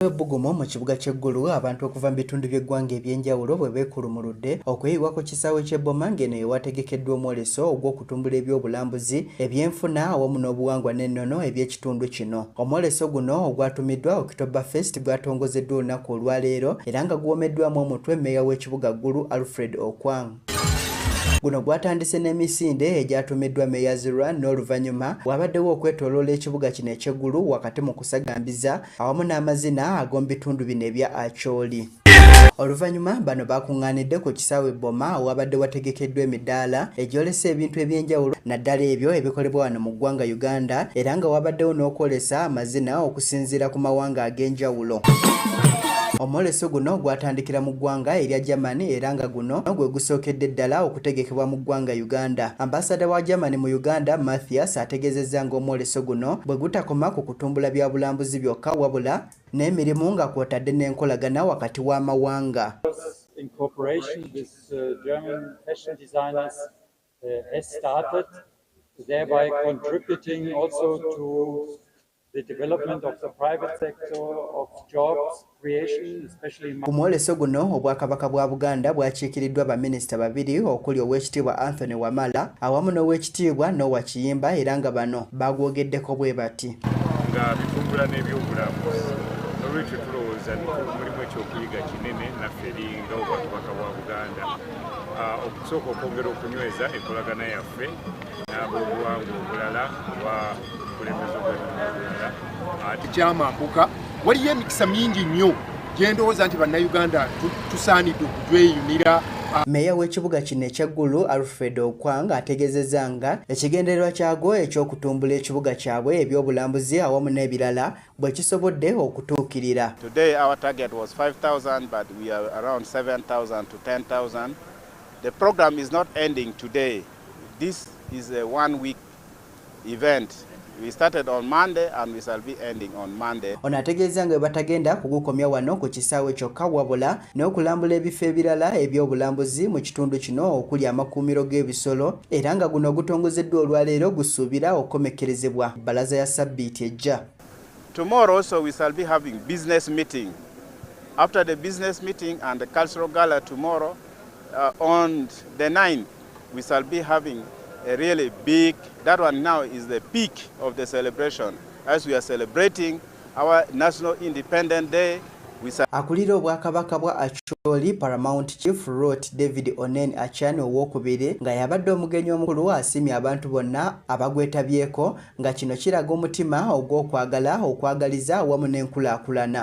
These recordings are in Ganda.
Bwebugumu mu kibuga ky'e Gulu abantu okuva mu bitundu by'eggwanga eby'enjawulo bwe beekulumuludde okuyiibwa ku kisaawe ky'e Boma ng'eno ye wategekeddwa omwoleso ogw'okutumbula ebyobulambuzi, ebyenfuna awamu n'obuwangwa n'ennono eby'ekitundu kino. Omwoleso guno ogwatumiddwa October Fest gwatongozeddwa olunaku olwaleero era nga guwomeddwamu omutwe mmeeya w'ekibuga Gulu Alfred Okwang. Guno gwatandise n'emisinde egyatumiddwa Meyazirwa n'oluvannyuma waabaddewo okwetooloola ekibuga kino eky'eggulu wakati mu kusagambiza awamu n'amazina ag'omubitundu bino ebya Acholi. Oluvanyuma bano bakunganidde ku kisaawe Boma wabadde wategekeddwa emidaala egyolesa ebintu ebyenjawulo naddala ebyo ebikolebwa wano mu ggwanga Uganda era nga wabaddewo n'okwolesa amazina okusinziira ku mawanga ag'enjawulo. Omwoleso guno gwatandikira mu ggwanga erya Germany era nga guno gwe gusookedde ddala okutegekebwa mu ggwanga Uganda. Ambasada wa Germany mu Uganda Mathias ategezezza ng'omwoleso guno bwe gutakoma ku kutumbula bya bulambuzi byokka wabula n'emirimu nga kwotadde n'enkolagana wakati w'amawanga thereby contributing also to the development of the private sector of jobs Ku mwoleso guno Obwakabaka bwa Buganda bwakiikiriddwa baminisita babiri okuli Oweekitiibwa Anthony Wamala awamu n'Oweekitiibwa Noah Kiyimba era nga bano baagwogeddeko bwe bati. Nga bitumbula n'ebyobulambuzi n'olwekyo tulowooza mulimu ekyokuyiga kinene naffe eri nga Obwakabaka bwa Buganda ah, okusooka okwongera okunyweza enkolagana yaffe n'abobuwangwa obulala ekyamakuka waliyo emikisa mingi nnyo gyendowooza nti bannayuganda tusaanidde okujweyunira meeya w'ekibuga kino ekya gulu alfred okwang ategezeza nga ekigendererwa kyagwo eky'okutumbula ekibuga kyabwe ebyobulambuzi awamu n'ebirala bwe kisobodde okutuukirira This is a one week Ono ategeezza nga bwebatagenda kugukomya wano ku kisaawe kyokka wabula n'okulambula ebifo ebirala eby'obulambuzi mu kitundu kino okuli amakuumiro g'ebisolo era nga guno ogutongozeddwa olwaleero gusuubira okukomekkerezebwa bbalaza ya ssabbiiti ejja. Tomorrow also we shall be having business meeting. After the business meeting and the cultural gala tomorrow, uh, on the 9th, We shall be having a really big, that one now is the peak of the celebration as we are celebrating our National Independent Day. Akulira obwakabaka bwa Acholi Paramount Chief Rot David Onen Achan owokubiri nga yabadde omugenyi omukulu asimye abantu bonna abagwetabyeko nga kino kiraga omutima ogw'okwagala okwagaliza awamu n'enkulaakulana.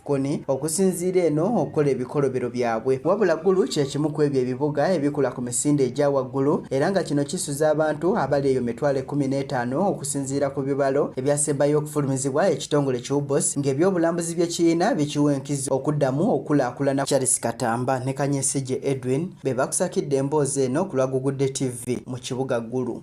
Koni okusinziira eno okukola ebikolobero byabwe wabula Gulu kye kimu ku ebyo ebibuga ebikula ku misinde egya waggulu era nga kino kisuza abantu abali eyo mitwalo ekkumi n'etaano okusinziira ku bibalo ebyasembayo okufulumizibwa ekitongole ki UBOS ng'ebyobulambuzi bye kirina bikiwa enkizo okuddamu okulaakulana Charles Katamba ne Kanyesije Edwin be bakusakidde emboozi eno ku lwa Gugudde TV mu kibuga Gulu.